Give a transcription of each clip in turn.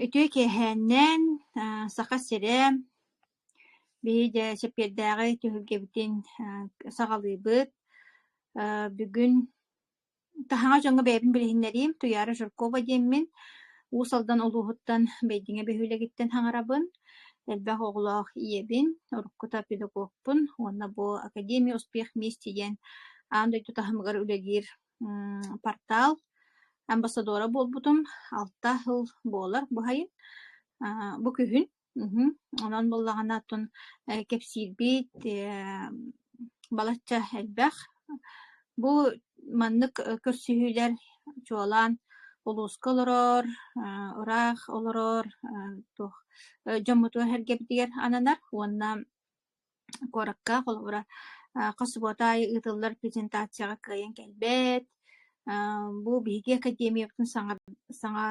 Үтүө киэһээннээн Саха сирэ биһи дьэ Сэппиэрдээҕи түһүлгэбитин саҕалыыбыт. Бүгүн таһаҕас дьоҥҥо бэйэбин билиһиннэриим Туйаара Жиркова диэммин. Уус Алдан улууһуттан Бэйдиҥэ биһилэгиттэн хаҥарабын. Элбэх оҕолоох ийэбин, уруккута педагогпун уонна бу Академия успех вместе диэн аан дойду таһымыгар үлэлиир портал амбассадора буолбутум алта сыл буолар баһайы бу күһүн онон буоллаҕына оттон кэпсиирбит балачча элбэх бу маннык көрсүһүүлэр чуолаан улууска олорор ыраах олорор дьоммуту эһэргэбитигэр ананар уонна куоракка холобура хос субуота аайы ыытыллар презентацияҕа кыайан кэлбэт бу биһиги академиябытын саҥа саҥа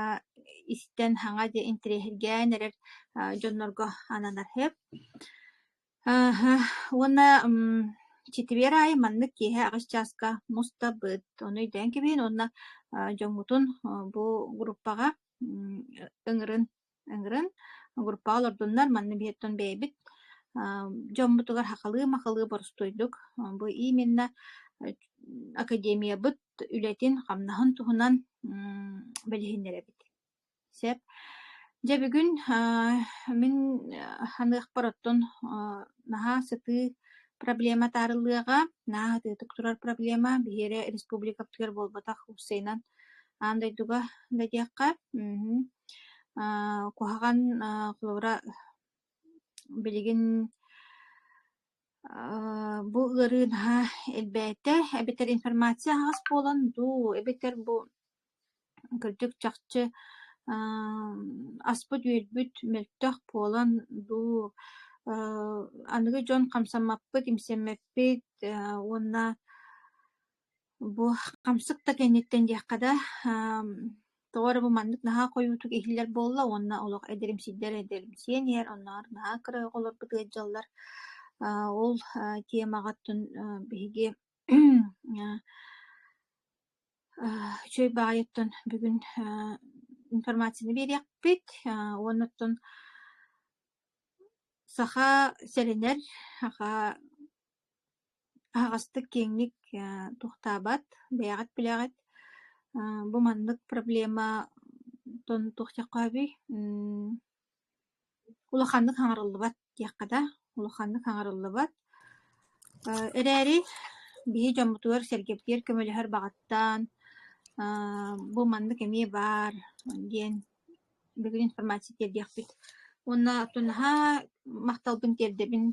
истэн саҥа диэн интэриэһиргээн эрэр дьоннорго ананар сөп уонна чэтибиэр аайы маннык киэһэ аҕыс чааска мустабыт ону өйдөөн кэбиһин уонна дьоҥҥутун бу группаҕа ыҥырын ыҥыран огурпаҕа олордуннар манна биһиттэн бэйэбит дьоммутугар хахалыы-махалыы боростуйдук бу именно академиябыт үлэтин хамнаһын туһунан билиһиннэрэбит сөп дьэ бүгүн мин ханыахпар оттон наһаа сытыы проблема таарыллыаҕа наһаа атыытык турар проблема биһиэрэ республикабытыгар буолбатах устайынан аан дойдуга да диэххэ Аа куһаҕан аа Флора билигин аа бу ыарыы наһаа элбээтэ эбэтэр информация аһаҕас буолан дуу эбэтэр бу кырдьык чахчы аа аспыт-үөлбүт мөлтөх буолан дуу аа аныгы дьон хамсаммаппыт, имсэммэппит аа уонна Бу хамсык да кэнниттэн диэххэ да, тоҕо эрэ бу маннык наһаа хойуутук иһиллэр буолла уонна олох эдэрим сирдэр эдэримсийэн иһэр, оннооҕор наһаа кыра оҕо олорбут ыалдьаллар. Аа ол аа темаҕыттан аа биһиги аа үчүгэй баҕайыттан бүгүн аа информацияны биэриэхпит аа уонна оттон саха сэрэнэр, саха Аһаҕастык киэҥник туохтаабат, бэйэҕит билэҕит. Бу маннык проблематан туохтиахха сөбүй? улаханнык хаҥарыллыбат диэххэ да, улаханнык хаҥарыллыбат. эрээри биһи дьоммутугар-сэргэбитигэр көмөлөһөр баҕаттан бу маннык эмиэ баар диэн бүгүн информация тиэрдиэхпит уонна наһаа махталбын тиэрдэбин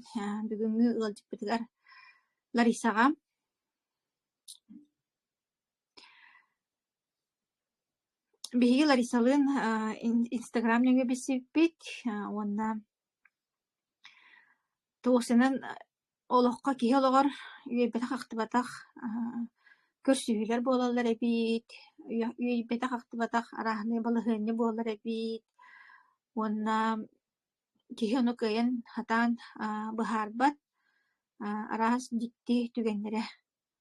бүгүҥҥү ыалдьыппытыгар Ларисаҕа биһиги Ларисалыын инстаграм нөҥүө билсибиппит уонна Тосинан олоххо киһи олоҕор үөйбэтэх-ахтыбатах көрсүһүүлэр буолаллар эбит, үөйбэтэх-ахтыбатах арааһынай балаһыанньа буолар эбит уонна киһи ону кыайан, сатаан быһаарбат, араас дьикти түгэннэрэ.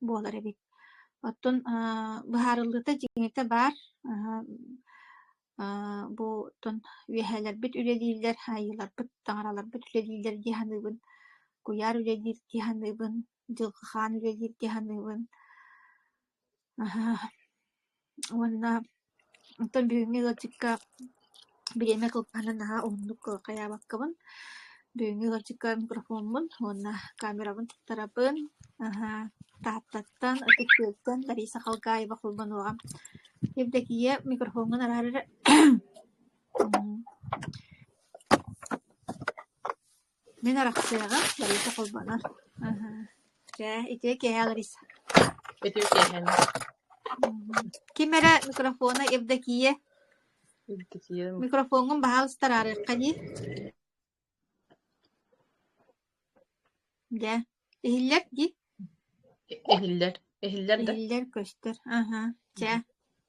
буолар эбит. Оттон аа, быһаарыллыыта дьиҥитэ баар. Аа, аа, бу оттон үөһээлэрбит үлэлииллэр, айыыларбыт, таҥараларбыт үлэлииллэр дии саныыбын. Куйаар үлэлиир дии саныыбын. Дьылҕахаан үлэлиир дии саныыбын. Аһа, Уонна оттон бүгүҥҥү ыалдьыкка бириэмэ кылгаһынан наһаа уһуннук хайаабаккабын. Бүгүҥҥү ыалдьыкка микрофоммун уонна камерабын туттарабын. Аһаа, Тааттаттан, ытыктыыртан Лариса Халгаева холбонуоҕа. Евдокия, микрофоҥҥун араары эрэ Мин арахсыаҕа, барыта холбонор. Чэ, ити киэһэ Лариса. Ити киэһэ. Ким эрэ микрофона Евдокия. Евдокия. Микрофоҥҥун баһаалыста араарыахха дии. Дьэ, иһиллэр дии. Иһиллэр. Иһиллэр да. Иһиллэр көстөр. Аһа. Чэ,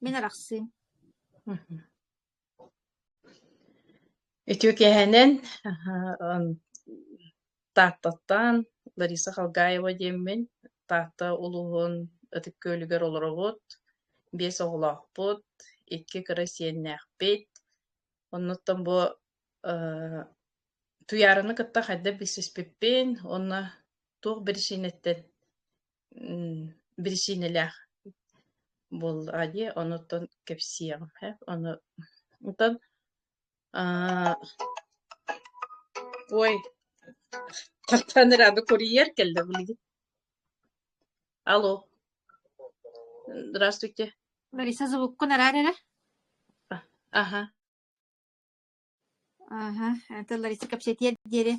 мин арахсыым. Үтүө киэһэнэн Тааттаттан Лариса Халгаева диэммин. Таатта улууһун Ытык Күөлүгэр олоробут. Биэс оҕолоохпут, икки кыра сиэннээхпит. Оннуттан бу э Туйаарыны кытта хайдах билсиспиппин уонна туох биричиинэттэн биричиинэлээх буоллаҕа дии, онуттан кэпсиэҕим һэ. Ону онтон аа ой, хаттаан эрэ аны курьер кэллэ билигин. Алло. Здравствуйте. Лариса звуккун араар эрэ. Аха. Ааһа, это Лариса кэпсэтиэр диэри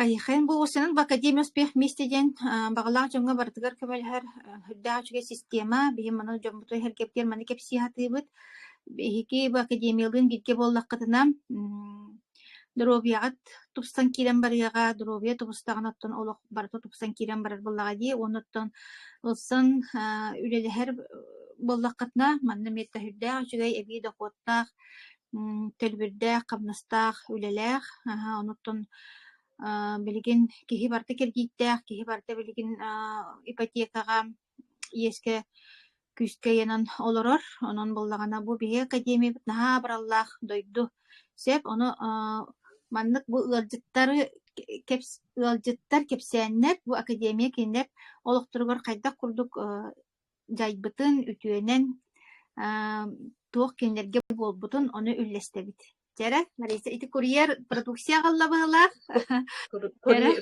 хайыхайын булгуччанан в Академия успех вместе диэн аа, баҕалаах дьоҥҥо барытыгар көмөлөһөр э, үрдээх үчүгэй система. Биһиги манна дьоммутун эһэргэбитигэр маны кэпсии сатыыбыт. Биһиги бу академиялыын бииргэ буоллаххытына, м, доруобуйаҕыт тупсан киирэн барыаҕа, доруобуйа тубустаҕына оттон олох барыта тупсан киирэн барар буоллаҕа дии. Уонна оттон ылсан аа, үлэлэһэр э, буоллаххытына, манна эмиэ да үрдээх үчүгэй эбии дохуоттаах Төлбүрдээх, хамнастаах үлэлээх, онуттан билигин киһи барыта кирдииттээх, киһи барыта билигин ипотекаҕа, иэскэ, күүскэ ыйанан олорор. Онон буоллаҕына бу биһиги академиябыт наһаа абыраллаах дойду. Сөп, ону маннык бу ыалдьыттары ыалдьыттар, кэпсээннэр бу академия кинилэр олохторугар хайдах курдук дьайбытын, үтүөнэн туох кинилэргэ буолбутун ону үллэстэбит. Дьэрэ, Лариса, ити курьер продукция аҕалла быһылаах.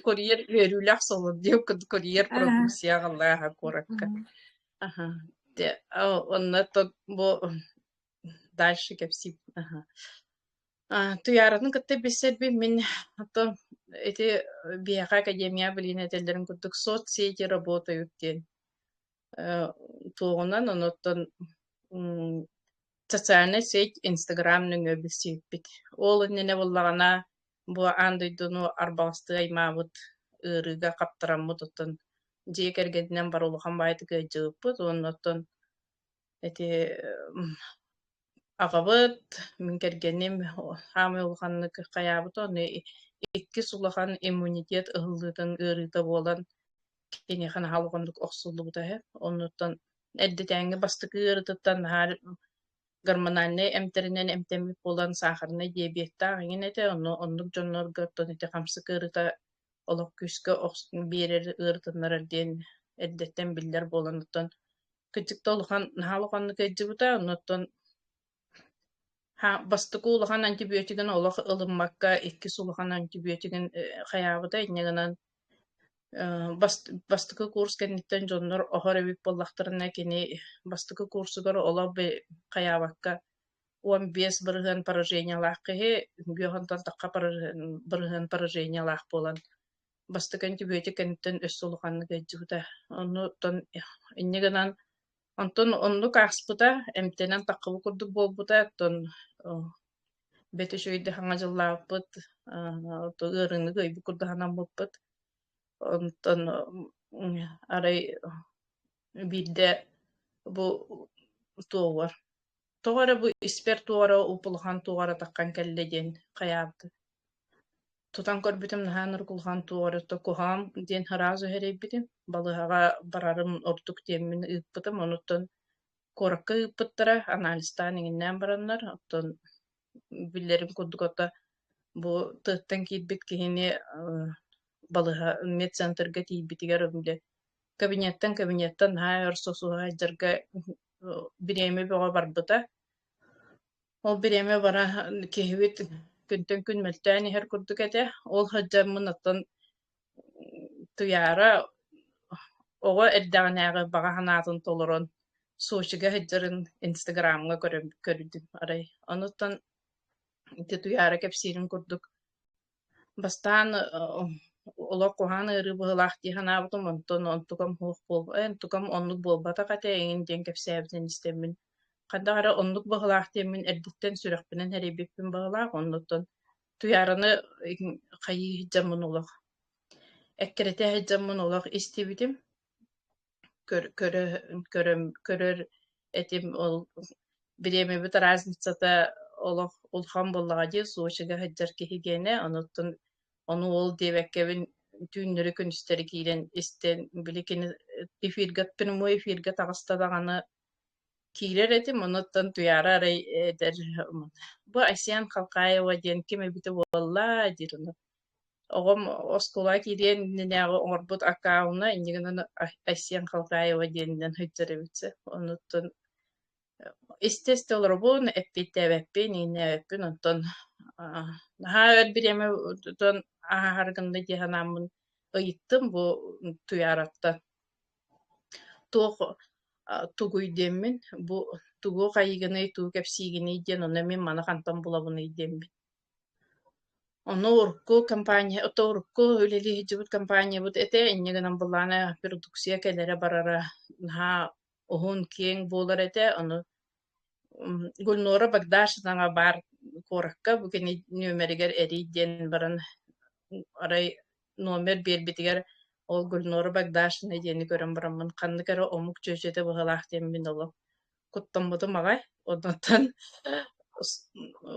Курьер үөрүүлээх солод диэн курьер продукция аҕалла куоракка. Онно бу дальше кэпсиим аха а, Туйааратын кытта билсэрбин мин то ити биһиэхэ академия билиин этэллэрин курдук соцсети работают диэн э, туоҕунан онуттан социальная сеть Инстаграм нөҥө билсииппит ол иннинэ буллаҕына бу аан дойдуну арбаластыы аймаабыт ыарыыга хаптараммыт оттон дьиэ кэргэнинэн бар улахан баайытык ыалдьыбыппыт онно оттон эти аҕабыт, мин кэргэним саамай улаханнык хайаабыта ону иккис улахан иммунитет ыһыллыытын ыарыыта буолан киниэхэ наһаа улаханнык охсуллубута үһү. Оннуттан эрдэтээҥҥи бастакы ыарытыттан наһаа гормональнай эмтэринэн эмтэммит буолан саахарынай диабеттаах иҥин этэ. Ону оннук дьоннорго оттон ити хамсык ыарыыта олох күүскэ охс биэрэр ыарытыннарар диэн эрдэттэн биллэр буолан оттон кыдьыкта улахан наһаа улаханнык өйдүбүтэ оннуттан бастакы улахан антибиотигын олох ылыммакка иккис улахан антибиотигын хайаабыта инньэ гынан бастакы курс кэнниттэн дьоннор оһор эбит буоллахтарына кини бастакы курсугар олох хайаабакка он бес бырыһыан поражениялаах киһи үҥгү оһонтон тахха бырыһыан поражениялаах буолан бастакы антибиотик кэнниттэн өссө улаханнык ыйдьыбыта. Онну оттон инньэ гынан онтон оннук ааспыта, эмтэнэн таххабыт курдук буолбута, оттон бэт үч өйдө хаҥа дьыллаабыт, ыарыыны өйбүт курдук санаммыппыт. Онтон арай биирдэ бу туовар тоҕо эрэ бу испэр туора уп улахан туоҕара таххан кэллэ диэн хайаабыт Тутан көрбүтүм наһаа нургулҕан туоҕар то куһаҕан диэн сразу сэрэйбитим. Балыыһаҕа барарым ордук диэммин ыыппытым. Онуттан куоракка ыыппыттара, анализтаан иҥиннээн бараннар, оттон биллэрим курдук отто бу тыаттан киирбит киһини э, балыһа медцентрга тиийбитигэр били кабинеттан кабинеттан наһаа өр сосуһа сылдьарга э, бириэмэ бөҕө барбыта. Ол бириэмэ бара киһибит күнтэн күн мөлтөөн иһэр курдук этэ. Ол сылдьаммын оттон Туйаара оҕо эрдэҕинээҕи баҕа санаатын толорон Сочига сылдьарын Инстаграмҥа көрөн көрдүм арай. Онуттан ити Туйаара кэпсиирин курдук Бастаан олох куһаҕан ыарыы быһыылаах дии санаабытым, онтон онтукам суох буолбут, эн онтукам оннук буолбатах этэ эҥин диэн кэпсээбитин истэммин, ханнык эрэ оннук быһыылаах диэммин эрдэттэн сүрэхпинэн эрэйбиппин быһыылаах, оннуттан Туйаараны хайыы сылдьаммын олох, эккирэтэ сылдьаммын олох истибитим. көрө көрөр этим ол бириэмэбит разницата олох улахан буоллаҕа дии Сочига сылдьар киһи гиэнэ онуттан ону ол диэбэккэбин түүннэри күнүстэри киирэн истэн били кини эфиргаппын мой эфиргэ таҕыста даҕаны киирэр этим, онуттан туйаара арай эдэр бу Айсен Халкаева диэн ким эбитэ буолла диир ону. Оҕом оскуола киириэн иннинээҕи оҥорбут аккаунна иннигинэн Айсен Халкаева диэнинэн сылдьар эбит онуттан истэ-истэ олоробун, эппиэттээбэппин, иҥнээбэппин, онтон наһаа өр бириэмэ тутан ааһар гынна дии санааммын ыйыттым бу Туйаараттан. Туох тугуй диэммин, бу тугуох айыыгыный, тугу кэпсиигиний диэн ону эмиэ маны хантан булабыный диэммин. Ону урукку компания, то урукку үлэлэһидьибит компаниябыт этэ инньэ гынан былаана продукция кэлэрэ-барара наһаа уһун-киэҥ буолар этэ, ону Гульнора Багдашевнаҕа баар куоракка бу кини нүөмэригэр эрий диэн баран арай номер биэрбитигэр ол Гульнора Багдашевна диэни көрөн бараммын ханнык эрэ омук чүөчэтэ быһыылаах диэн мин олох куттаммытым аҕай оннуттан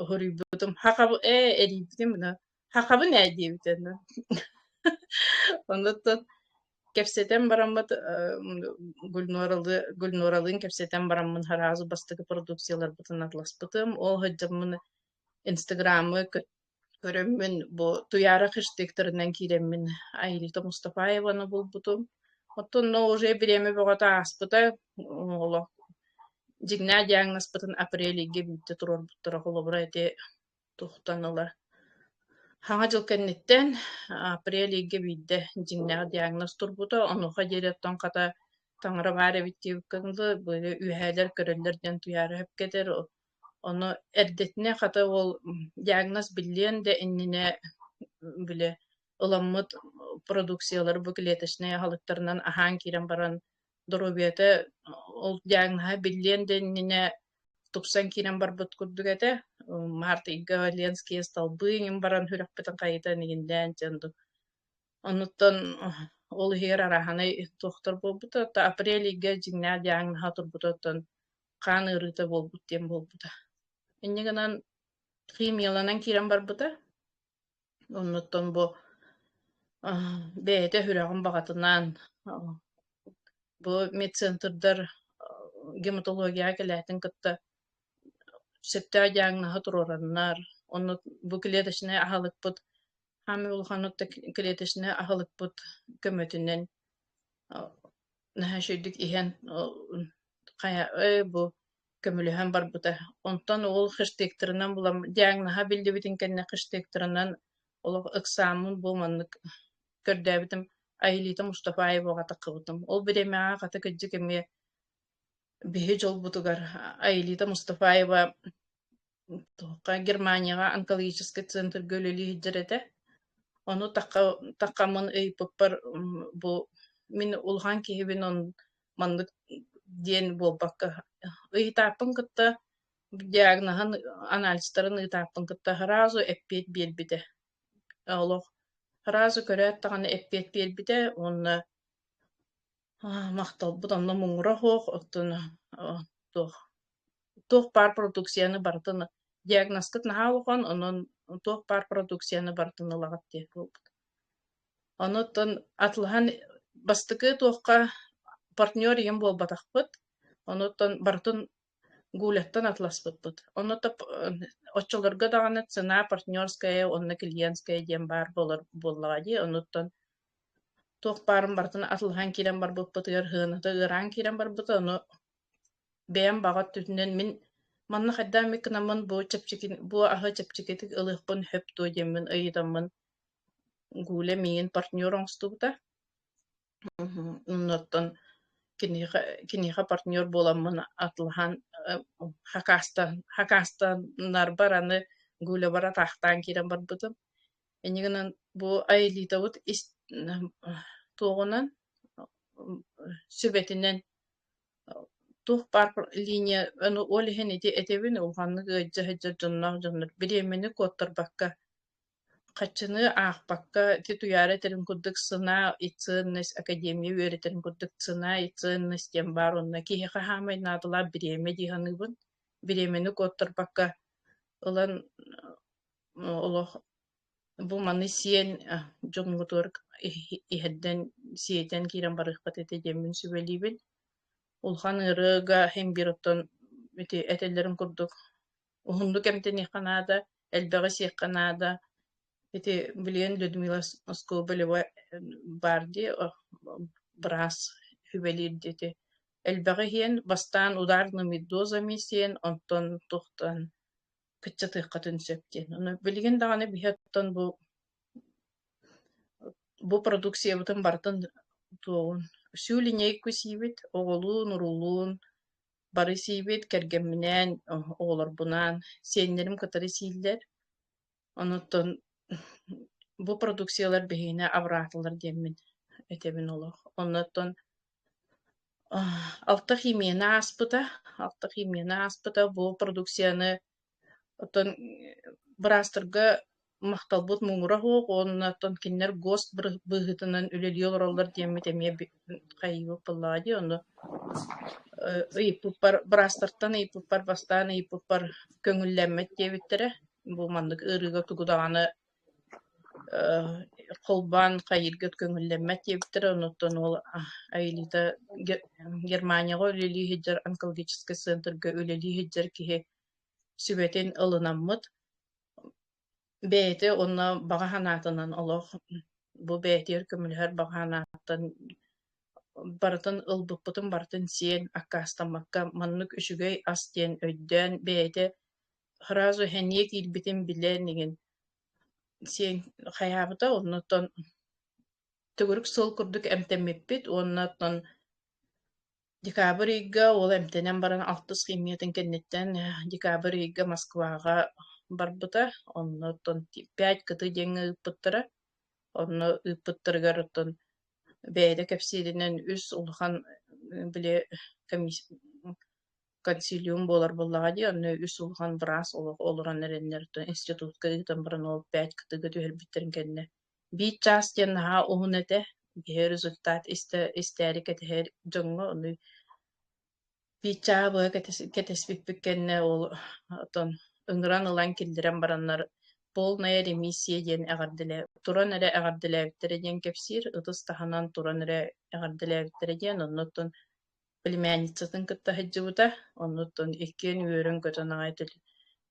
хоруйбутум ха э эрийбитим Хахабын ээ диэбит аны. Онуттан кэпсэтэн бараммыт Гульноралы Гульноралыын кэпсэтэн бараммын араас бастакы продукцияларбытын атласпытым. Ол сылдьаммын Инстаграмы көрөммүн бу Туяра хэштегтэринэн киирэммин Айрита Мустафаеваны булбутум. Оттонно уже бириэмэ бөҕөтө ааспыта олох дьиҥнээх диагнозпытын апрелиге бүттэ турорбуттара холобура ити тухтан ыла Хаҥа дьыл кэнниттэн апрель ыйга биирдэ дьиҥнээх диагноз турбута. Онуоха диэри оттон хата таҥара баар эбит диэбиккэ быйы үөһээлэр көрөллөр диэн туйаара өһүпкэтэр. Ону эрдэтинэ хата ол диагноз биллиэн да иннинэ били ыламмыт продукциялары бу клеточнай аһылыктарынан аһаан киирэн баран доруобуйата ол диагноһа биллиэн да иннинэ тупсан киирэн барбыт курдук этэ. Март ыйга Ленские столбы иҥин баран сүрэхпитин хайытан игиндээн дьон Оннуттан ол иһигэр араһанай туохтар буолбута, то апрель ыйга дьиҥнээх диагноһа турбута, оттон хаан ыарыыта буолбут диэн буолбута. Инньэ гынан химияланан киирэн барбыта. Оннуттан бу бэйэтэ сүрэҕин баҕатынаан бу медцентрдар гематологияҕа кэлээтин кытта сөптөөх диагноһы туруораннар, онно бу клеточнай аһылыкпыт хаамай улаханнык да клеточнай аһылыкпыт көмөтүнэн наһаа үчүгэйдик иһэн хайа ой бу көмөлөһөн барбыта. Онтон ол хыштыктырынан булам диагноһа биллибитин кэннэ хыштыктырынан олох ыксааммын бу маннык көрдөөбүтүм Айылита Мустафаеваҕа таххыбытым. Ол бириэмэҕэ хата кырдьык эмиэ биһи дьолбутугар Айылита Мустафаева Туохха Германияҕа онкологический центрга үлэлии сылдьар этэ. Ону тахха таххаммын ыйыппыппар бу мин улахан киһибин он маннык диэн буолбакка ыйытааппын кытта диагноһын анализтарын ыытааппын кытта сразу эппиэт биэрбитэ. Олох сразу көрөөт даҕаны эппиэт биэрбитэ уонна Аа, махталбыт онно муҥура суох, оттон э, туох туох паар продукцияны барытын диагнозкыт наһаа улахан, онон туох паар продукцияны барытын ылаҕыт диye буолбут. Онуттан атылаһан бастакы туохха партнер ийем буолбатахпыт, онуттан барытын Гуляттан атласпыппыт. Онно топ оччолорго даҕаны цена партнерская уонна клиентская диэн баар буолар буоллаҕа дии, онуттан туох баарын барытын атылаһан киирэн барбыппытыгар сыаната ыараан киирэн барбыта, ону бэйэм баҕа өттүнэн мин манна хайдаан эмит гынаммын бу чэпчэки бу аһы чэпчэкитик ылыахпын сөп дуо диэммин ыйытаммын Гуля миигин партнер оҥостубута. Оннуттан киниэхэ киниэхэ партнер буоламмын атылаһан хакаастан хакаастаннарбар аны гулябар атаахтаан киирэн барбытым. Инньэ гынан бу айылиитабыт ис туоҕунан сүбэтинэн туох баар линия ону ол иһин ити этэбин улаханнык ыалдьа сылдьар дьонноох дьоннор бириэмэни куоттарбакка Хаччыныы аахпакка, ити Туйаара этэрин курдук «Сына и ценность академия» үөрэтэрин курдук «Цена и ценность» диэн баар уонна киһи хаһаамай наадалаах бириэмэ дии саныыбын. Бириэмэни куоттарбакка ылан олох бу маны сиэн дьоҥҥутугар иһэрдэн, сиэтэн киирэн барыахпыт этэ диэммин сүбэлиибин. Улахан ырыага имбир оттон ити этэллэрин курдук уһуннук эмтэниэххэ наада, элбэҕи сиэххэ наада. Ити билигин Людмила Скобелева баар дии, быраас үлэлиир диэти. Элбэҕи иһиэн, бастаан ударными дозами сиэн, онтон туохтан кыччатыаххытын сөп диэн. Ону билигин даҕаны биһиттэн бу бу продукциябытын барытын туоҕун. Всю линейку сиибит, оҕолуун, уруулуун, Бары сиибит, кэргэмминээн, оҕолорбунаан сиэннэрим кытары сииллэр. Онуттан бу продукциялар биһиэнэ абыраатылар диэммин этэбин олох. Оннуттан алта химияны ааспыта, алта химияны ааспыта. Бу продукцияны Оттон быраастарга махталбыт муҥура суох уонна оттон кинилэр ГОСТ быһыытынан үлэлии олороллор диэммит эмиэ хайыыбыт буоллаҕа дии ону э, ыйыппыппар быраастартан ыйыппыппар бастаан ыйыппыппар көҥүллэммэт диэбиттэрэ бу маннык ыарыыга тугу даҕаны э, холбоон хайыырга көҥүллэммэт диэбиттэрэ онуттан уол Аэлита Германияҕа үлэлии сылдьар онкологическай центрга үлэлии сылдьар киһи сүбэтин ылынаммыт. Бэйэтэ уонна баҕа санаатынан олох бу бэйэтигэр көмөлөһөр баҕа санааттан барытын ылбыппытын барытын сиэн аккаастаммакка маннык үчүгэй ас диэн өйдөөн бэйэтэ сразу сэниэ киирбитин билэн игин сиэн хайаабыта оннуттан төгүрүк сыл курдук эмтэммиппит уонна оттон Декабрь ыйга уол эмтэнэн баран алтыс химиятын кэнниттэн э, декабрь ыйга Москваҕа барбыта. Онно оттон пять кыты диэҥҥэ ыыппыттара. Онно ыыппыттарыгар оттон бэйэтэ кэпсииринэн үс улахан э, били комисс консилиум буолар буоллаҕа дии, онно үс улахан быраас олох олорон эрэннэр институтка ыытан баран ол пять кытыга түһэрбиттэрин кэннэ Биир чаас диэн наһаа уһун этэ, киһи результат истэ истээри кэтэһэр дьоҥҥо ону биир чааһа быһа кэтэс кэтэспиппит кэннэ ол оттон ыҥыран ылан киллэрэн бараннар полная ремиссия диэн эҕэрдэлээ туран эрэ эҕэрдэлээбиттэрэ диэн кэпсиир, ытыс таһынан туран эрэ эҕэрдэлээбиттэрэ диэн оннуттун племянницатын кытта сылдьыбыта, оннуттун иккиэн үөрэн көтөн аҕай түлү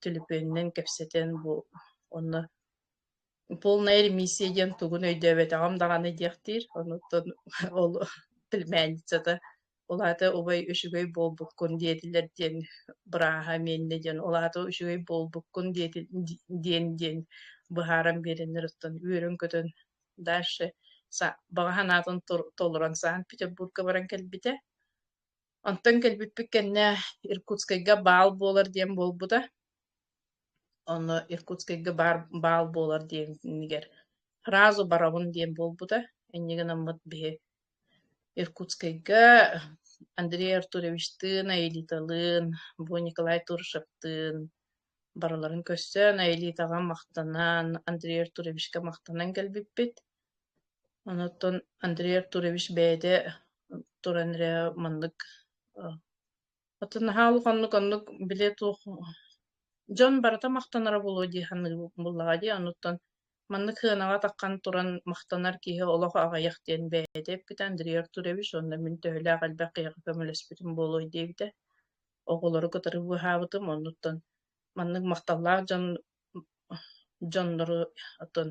түлүпүөнүнэн кэпсэтэн бу онно полная ремиссия диэн тугун өйдөөбөтөҕүм даҕаны диэхтиир. Онуттан ол племянницата улаата убай үчүгэй буолбуккун диэтилэр диэн бырааһа миэннэ диэн улаата үчүгэй буолбуккун диэти диэн диэн быһааран биэрэннэр оттон үөрөн-көтөн дальше баҕа санаатын толорон Санкт-Петербурга баран кэлбитэ Онтон кэлбиппит кэннэ Иркутскайга баал буолар диэн буолбута. Онно Иркутскайга баар баал буолар диэнигэр фразу барабын диэн буолбута. Инньэ гынаммыт биһи Иркутскайга Андрей Артуровичтыын, Аэлиталыын, бу Николай Туршевтыын барыларын көрсөн, Аэлитаҕа махтанан, Андрей Артуровичка махтанан кэлбиппит. Оноттон Андрей Артурович бэйэтэ туран эрэ маннык атын наһаа улаханнык оннук бile туох дьон барыта махтанара буолуо дии саныыбын буоллаҕа дии онуттан маннык сыанаҕа атаххан туран махтанар киһи олох аҕыйах диэн бэйэтэ эппитэ Андрей Артурович уонна мин төһөлөөх элбэх киһиэхэ көмөлөспүтүм буолуой диэбитэ оҕолору кытары быыһаабытым оннуттан маннык махталлаах дьон дьоннору отон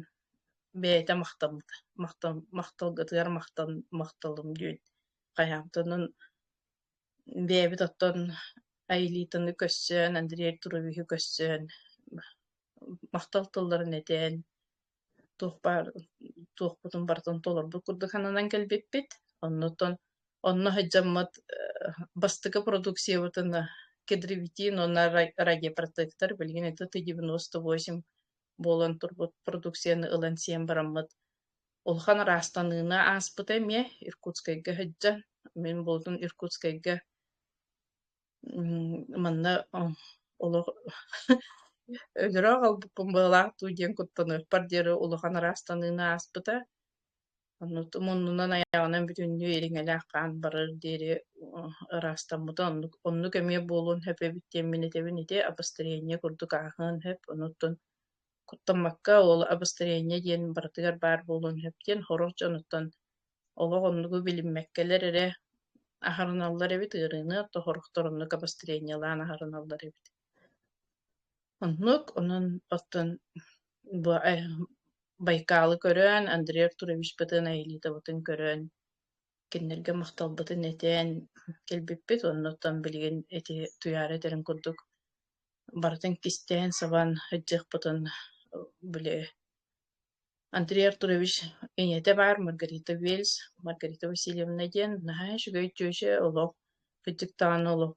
бэйэтэ махталбыта махтал махталгытыгар махтал махталым диэн хайаамтынын бэйэбит оттон Аэлитаны көрсөн Андрей Туровиһы көрсөн махтал тылларын этэн туох баар туохпутун барытын толорбут курдук сананан кэлбиппит. Оннуттан онно сылдьаммыт бастакы продукциябытын кедровитин уонна рагипротектор билигин ити ты девяносто восемь буолан турбут продукцияны ылан сиэн бараммыт улахан ыраастаныыны ааспыта эмиэ Иркутскайга сылдьан мин буолутум Иркутскайга Манна олох өлөрө аҕалбыппын быалаах дуу диэн куттаныахпар диэри улахан араастаныыны ааспыта. Оннутум оннунан аяҕынан бүтүннүү ириҥэлээх хаан барар диэри ыраастаммытым. Оннук оннук эмиэ буолуон сөп эбит диэн мин этэбин ити, обострение курдук ааһыан сөп. Онуттан куттаммакка ол обострение диэн барытыгар баар буолуон сөп диэн хорор дьонуттан олох оннугу билиммэккэлэр эрэ аһарыналлар эбит ыарыыны оттохорохтор оннук обострениелаан аһарыналлар эбит оннук онон оттон бу байкалы көрөн андрей артурович бытын айылыытабытын көрөн кинилэргэ махталбытын этэн кэлбиппит оннуттан билигин ити туйаара этэрин курдук барытын кистээн сабан сылдьыахпытын били Андрей Артурович ийэтэ баар Маргарита Вельс Маргарита Васильевна диэн наһаа үчүгэй тётя олох кырдьык даҕаны олох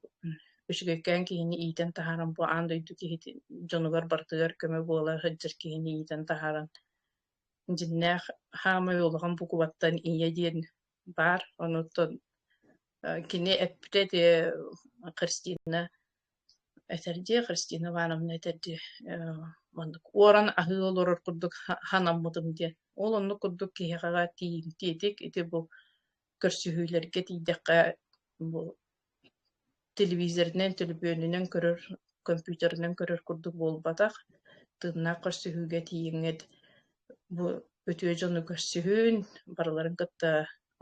үчүгэйкээн киһини иитэн таһааран бу аан дойду киһитин дьонугар барытыгар көмө буола сылдьар киһини иитэн таһааран дьиннээх хаамай улахан букубаттан ийэ диэн баар онуттан кини эппитэ ити Христина этэрдии Христина Ивановна этэрдии маннык уоран аһыы олорор курдук санаммытым диэн ол оннук курдук киһиэхэ тиитик ити бу көрсүһүүлэргэ тиийдэххэ бу телевизорынан төлөпүөнүнэн көрөр компьютерынан көрөр курдук буолбатах тыыннаах көрсүһүүгэ тиийиҥҥит бу үтүө дьону көрсүһүн барыларын кытта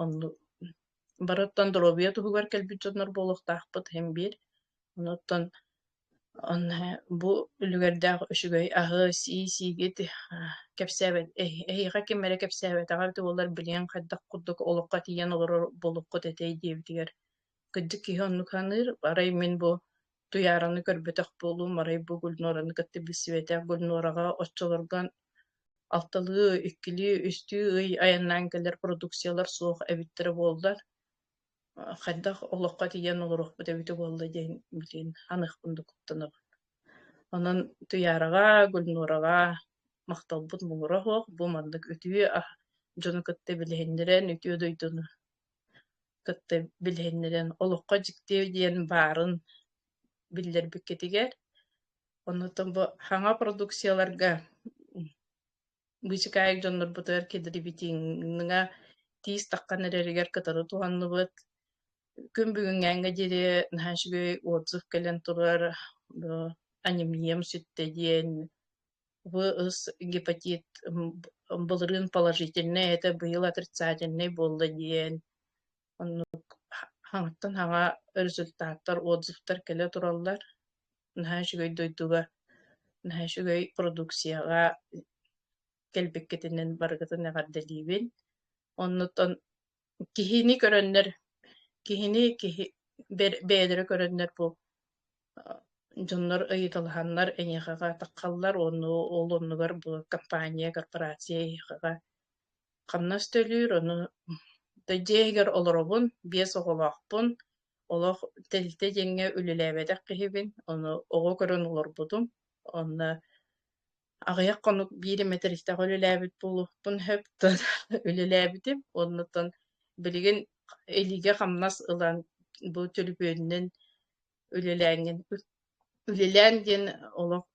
оннук Барыттан доруобуйа туһугар кэлбит дьоннор буолуохтаахпыт иһин биир. Онуттан онно бу үлүгэрдээх үчүгэй аһы, сии-сиигит кэпсээбэт эһиэхэ ким эрэ кэпсээбэтэҕэ эбитэ буоллар билиэҥ хайдах курдук олоххо тиийэн олорор буолуккут этэй диэбитигэр кырдьык киһи оннук саныыр. Арай мин бу Туйаараны көрбөтөх буолуум, арай бу Гульнораны кытта билсибэтэх. Гульнораҕа оччолорго алталыы, иккилии, үстүү ый айаннаан кэлэр продукциялар суох эбиттэрэ буоллар, а, хайдах олоххо тиийэн олоруохпут эбитэ буолла диэн билигин аныах курдук куттанабын. Онон Туйаараҕа, Гульнораҕа махталбыт муҥура суох. Бу маннык үтүө а дьону кытта билиһиннэрэн, үтүө дойдуну кытта билиһиннэрэн олоххо дьиктиэ диэн баарын биллэрбиккитигэр оннуттан бу саҥа продукцияларга быычыкаайык дьоннорбутугар кэдирибитиҥҥа тиис таххан эрэригэр кытары туһанныбыт күн бүгүҥҥээҥҥэ диэри наһаа үчүгэй отзыв кэлэн турар анемнием сүттэ диэн В ыс гепатит былырыын положительнай этэ, быйыл отрицательнай буолла диэн. Оннук хаҥаттан хаҥа результаттар, отзывтар кэлэ тураллар. Наһаа үчүгэй дойдуга, наһаа үчүгэй продукцияҕа кэлбиккитинэн барыгытын эҕэрдэлиибин. Оннуттан Киһини көрөннөр, киһини киһи бэр бэйэлэрэ көрөннөр бу дьоннор ыйыталаһаннар эйиэхэҕэ атаххаллар уонна ол оннугар бу компания, корпорация эйиэхэҕэ хамнас төлүүр, ону да дьиэ иһигэр олоробун, биэс оҕолоохпун, олох тэрилтэ диэҥҥэ үлэлээбэтэх киһибин, ону оҕо көрөн олорбутум, онно Аҕыйах хонук биир метристээх үлэлээбит буолуохпун сөптөөн үлэлээбитим. Оннуттан билигин илиигэ-хамнас ылан бу төлөпүөнүнэн үлэлээҥҥин. Үлэлээн диэн олох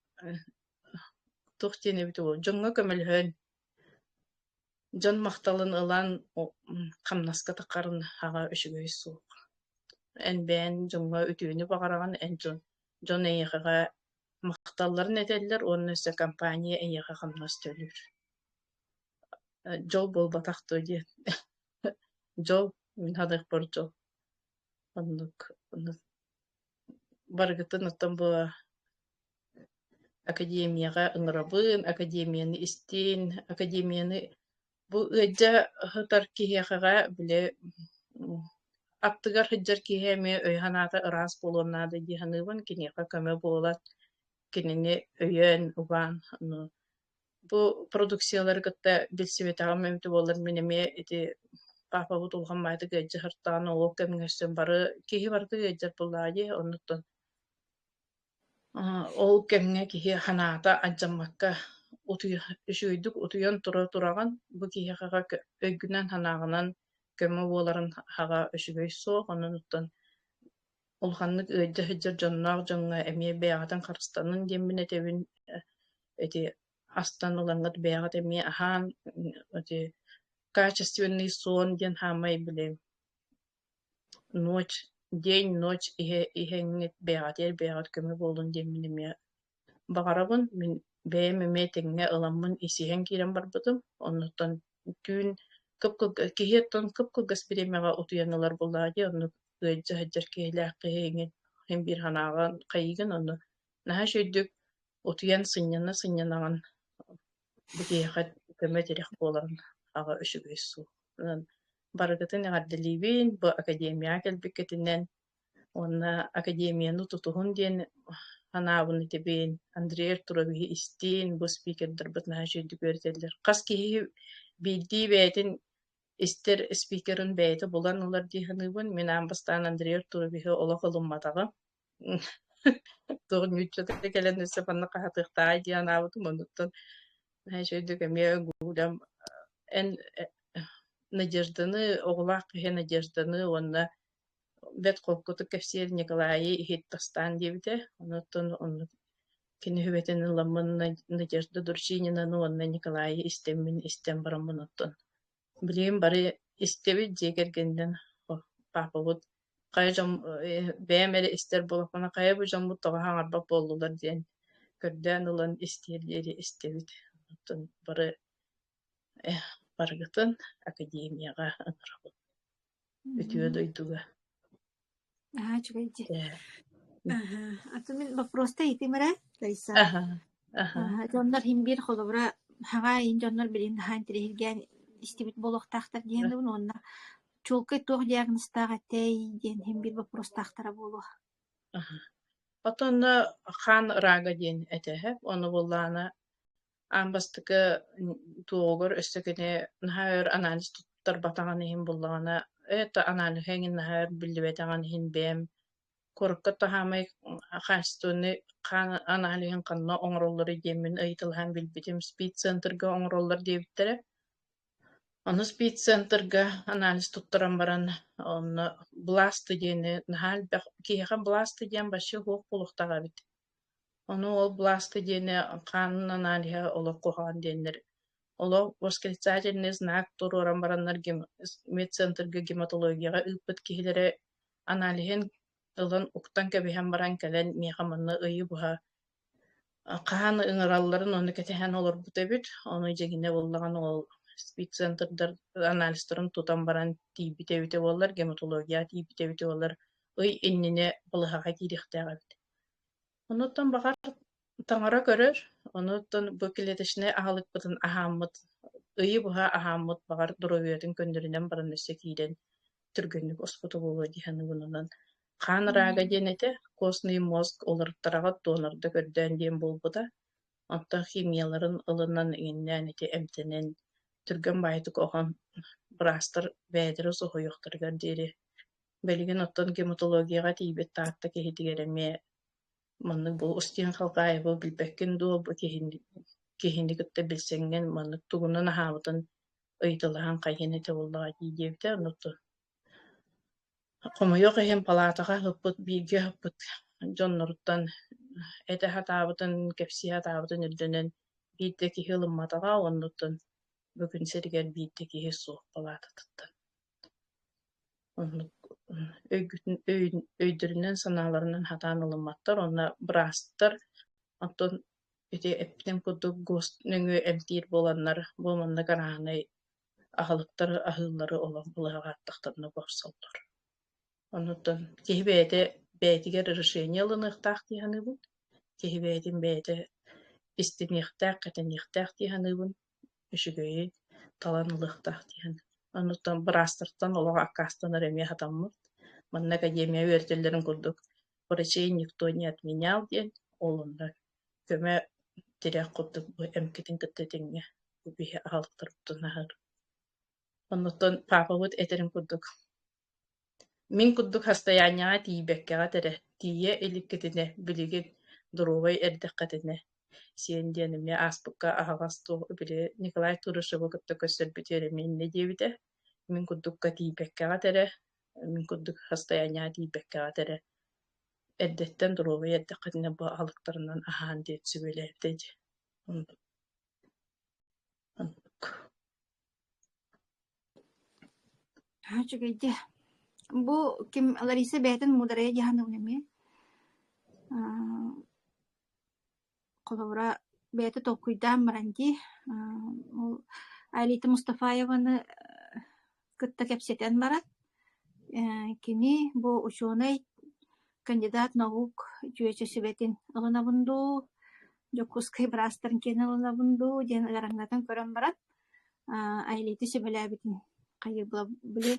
туох диэн эбит ол дьоҥҥо көмөлөһөн, дьон махталын ылан хамнаска тахарын аҕа үчүгэй суох. Эн бэйэҥ дьоҥҥо үтүөнү баҕараҕын, эн дьон дьон эйиэхэҕэ махталларын этэллэр уонна өссө компания эйиэхэ хамнас төлүүр дьол буолбатах дуо диэн дьол мин саныахпар дьол оннук барыгытын оттон бу академияҕа ыҥырабын академияны истин академияны Бу ыалдьа ыһытар киһиэхэҕэ били аттыгар сылдьар киһи эмиэ өй-санаата ыраас буолуон наада дии саныыбын. Киниэхэ көмө буолат, кинини өйөөн, убаан. Ну, бу продукциялары кытта билсибэтэҕим эбитэ буоллар мин эмиэ ити паапабыт улахан баайдык ыалдьа сыртаан олох кэмҥэ өссө бары киһи барыта ыалдьар буоллаҕа дии, оннуктан Ол кэмҥэ киһи санаата алдьаммакка утуйа үчүгэйдик утуйан тура тураҕын бу киһиэхэ өйгүнэн-санааҕынан көмө буоларын аһаҕа үчүгэй суох оннуттан улаханнык ыалдьа сылдьар дьонноох дьоҥҥо эмиэ бэйэҕитин харыстанын диэммин этэбин ити астан ылаҥҥыт бэйэҕит эмиэ аһаан эти качественный сон диэн хаамай билэбин ночь день ночь иһэ иһэҥҥит бэйэҕитигэр бэйэҕит көмө буоллун диэн мин эмиэ баҕарабын мин бэйэм эмиэ тэҥҥэ ыламмын исиһэн киирэн барбытым оннуттан түүн кып-кылга киһи оттон кып-кылгас бириэмэҕэ утуйан ылар буоллаҕа дии оннук ыалдьа сылдьар киһилээх киһи иҥин иһин биир санааҕын хайыгын онно наһаа үчүгэйдик утуйан сынньана сынньанаҕын бу киһиэхэ көмө тирэх буоларын аҕа үчүгэй суол барыгытын эҕэрдэлиибин бу академияҕа кэлбиккитинэн уонна академияны тутуһун диэн санаабын этибин Андрей Артуровиһы истиин бу спикердарбыт наһаа үчүгэйдик үөрэтэллэр хас киһи биирдии бэйэтин истэр спикерын бэйэтэ булан ылар дии саныыбын мин аан бастаан Андрей Артуровиһы олох ылымматаҕым Туох ньууччата кэлэн өссө манна хаһатыахтааҕай диэн анаабытым, оннуттан знаешь, өйдүк эмиэ Гулям эн э, Надежданы, оҕолоох киһи Надежданы уонна бэт холкутук кэпсиир Николайы иһиттастаан диэбитэ. Онуттан онно кини хүбэтин ылламмын Надежда Дурчининаны уонна Николайы истэммин истэн бараммын оттон Билигин бары истэбит дьиэ кэргэнинэн паапабыт хайа дьон бэйэм эрэ истэр буолакпына хайа бу дьоммут тоҕо хаҥарбат буоллулар диэн көрдөөн ылан истиэр диэри истэбит. Оттон бары барыгытын академияҕа ыҥырабын. Үтүө дойдуга Наһаа үчүгэй дии. Э, Аһа. А ты мин вопросты ыйытымыра, Раиса. аха, аха, Аха, дьоннор иһин биир холобура хаҕа иһин дьоннор билин наһаа интириһиргээн истибит буолуохтаахтар диэбин уонна чуолкай туох диагнозтаах этэй диэн иһин биир вопростаахтара буолуо. аха. Потонно хаан рага диэн этэ үһэ, ону буллаана аан бастакы туоҕугар өссө кини наһаа өр анализ туттарбатаҕын иһин буллаҕына это анализы эҥин наһаа өр биллибэтэҕин иһин бэйэм куоракка таһаамай хаачественный хаан анализын ханна оҥороллоро диэммин ыйытылаһан билбитим спид центрга оҥороллор диэбиттэрэ Ону спид-центрга анализ туттаран баран онно бласты диэни наһаа элбэх киһиэхэ бласты диэн вообще суох буолуохтаах эбит Ону ол быласты диэни хаанын аналиһа олох куһаҕан диэннэр. Олох восклицательный знак туруоран бараннар медцентрга гематологияҕа ыыппыт киһилэрэ аналиһын ылан уктан кэбиһэн баран кэлэн миэхэ манна ыйы быһа хаһан ыҥыралларын ону кэтэһэн олорбут эбит. Ону дьиҥинэ буоллаҕына ол спид-центрдар анализтарын тутан баран тиийбитэ эбитэ буоллар, гематология тиийбитэ эбитэ буоллар ый иннинэ балыһаҕа киириэхтээх эбит Онуттан баҕар таҥара көрөр, онуттан бу клеточнай аһылыкпытын аһааммыт, ыйы быһа аһааммыт баҕар доруобуйатын көннөрүнэн баран өссө киирэн түргэнник оспото буолуо дии саныыбынунан. Хаан рага диэн этэ, костный мозг уларыттараҕыт донорда көрдөөн диэн буолбута. Оттон химияларын ылынан иҥиннээн ити эмтэнэн түргэн баайтык оһон быраастар бээтэрэ соһуйуохтарыгар диэри Билигин оттон гематологияҕа тиийбит Таатта киһитигэр эмиэ маннык бу Устин Халкаева билбэккин дуо, бу киһини киһини кытта билсэҥҥин маннык тугунан аһаабытын ыйыталаһан хайыан этэ буоллаҕа дии диэбитэ, онно хомойуох иһин палаатаҕа ыппыт бииргэ ыппыт дьонноруттан этэ сатаабытын, кэпсии сатаабытын ирдэнэн биирдэ киһи ылымматаҕа, оннуттан бүгүн сиригэр биирдэ киһи суох палаататыттан. Оннук өйгүтүн өйүн өйдөрүнэн-санааларынан хатаан ылымматтар уонна быраастар оттон ити эппитим курдук гос нөҥүө эмтиир буоланнар бу маннык арааһынай аһылыктар аһыыллары олох былаһаҕа аттахтанна бопсоллор. Оннуттан киһи бэйэтэ бэйэтигэр решение ылыныахтаах дии саныыбын, киһи бэйэтин бэйэтэ истиниэхтээх, кэтэниэхтээх дии саныыбын. үчүгэйи талан ылыахтаах диэн. Онуттан быраастартан олох аккаастанар эмиэ хатаммыт. Манна академия үөрэтэллэрин курдук врачей никто не отменял диэн олуннар көмө тирэх курдук бу эмкитин кытта тэҥҥэ бу биһи аһалтарыттан аһар. Онуттан паапабыт этэрин курдук Мин курдук хастайаанньаҕа тиийбэккэҕэ этэрэ, тиийэ иликкитинэ, билигин, доруобай эрдэххитинэ, сиэн диэн эмиэ ааспыкка аһаҕас суох били Николай Турышевы кытта көрсөрбүтүгэр эмиэ иннэ диэбитэ. Мин курдукка тиийбэккэҕэ этэрэ, мин курдук хастайаанньаҕа тиийбэккэҕэ этэрэ. Эрдэттэн доруобай эрдэххитинэ бу алыптарынан аһаан диэн сүбэлээбитэ ити Аа, үчүгэйди. Бу ким Лариса бэйэтин муударайа дьаһаныбын эмиэ. Аа, холобура, бэйэтэ толкуйдаан баран дии. Аа, ол Арита Мустафаеваны кытта кэпсэтэн баран, кини бу учуонай кандидат наук үтүөчэсибэтин ылынабын дуу, Дьокуускай быраастарын киэн ылынабын дуу диэн ыараҥнатан көрөн баран, Айлити сөбүлээбитин хайыла били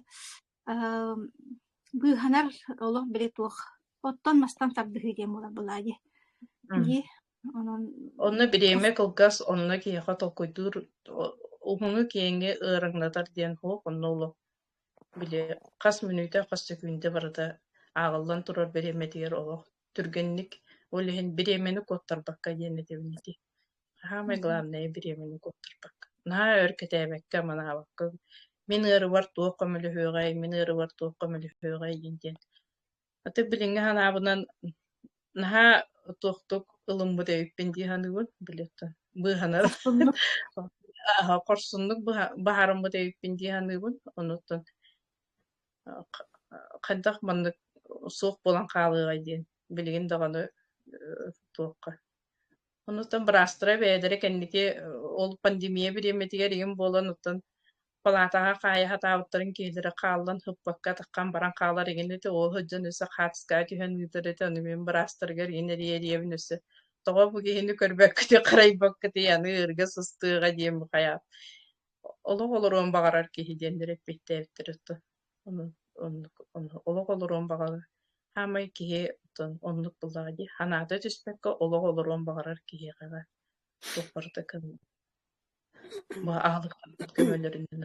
быыһанар олох били туох оттон-мастан тардыһыы диэн буолар былаадьы дии Онно бириэмэ кылгас, онно киһиэхэ толкуйдуур уһуну киэҥҥэ ыараҥнатар диэн суох, онно олох били хас мүнүүтэ, хас сөкүүндэ барыта ааҕыллан турар бириэмэтигэр олох түргэнник, ол иһин бириэмэни куоттарбакка диэн этэбин ити. Хаамай главное бириэмэни куоттарбакка. Наһаа өр кэтээбэккэ, манаабакка, мин ыарыбар туох көмөлөһүөҕэй, мин ыарыбар туох көмөлөһүөҕэй диэн диэн Атык билиҥҥи санаабынан наһаа туохтук ылыммыт эбиппин дии саныыбын, билеттан быыһанар Хорсуннук аһа хорсуннук быһа баһаарыммыт эбиппин дии саныыбын. Онуттан хайдах маннык суох буолан хаалыаҕай диэн билигин даҕаны туохха Онуттан быраастара бэйэлэрэ кэнники ол пандемия бириэмэтигэр ийэм буолан оттон палаатаҕа хаайа сатаабыттарын киһилэрэ хааллан ыппакка атаххам баран хаалар игин ити оо сыдьан өссө хаатыскаҕа түһэн ыытар ити ону мин быраастарыгар иин эрийэриэбин өссө тоҕо бу киһини көрбөккүтүй харайбаккытый аны ырга сыстыаҕа диэн бухайаап олох олоруон баҕарар киһи диэннэр эппиэттээбиттэр отто олох олоруон баҕарар хаамай киһи отон оннук буллаҕа дии санаата түспэккэ олох олоруон баҕарар киһиэхэ туох барыта кыҥ бу аалыктарбыт көмөлөрүнэн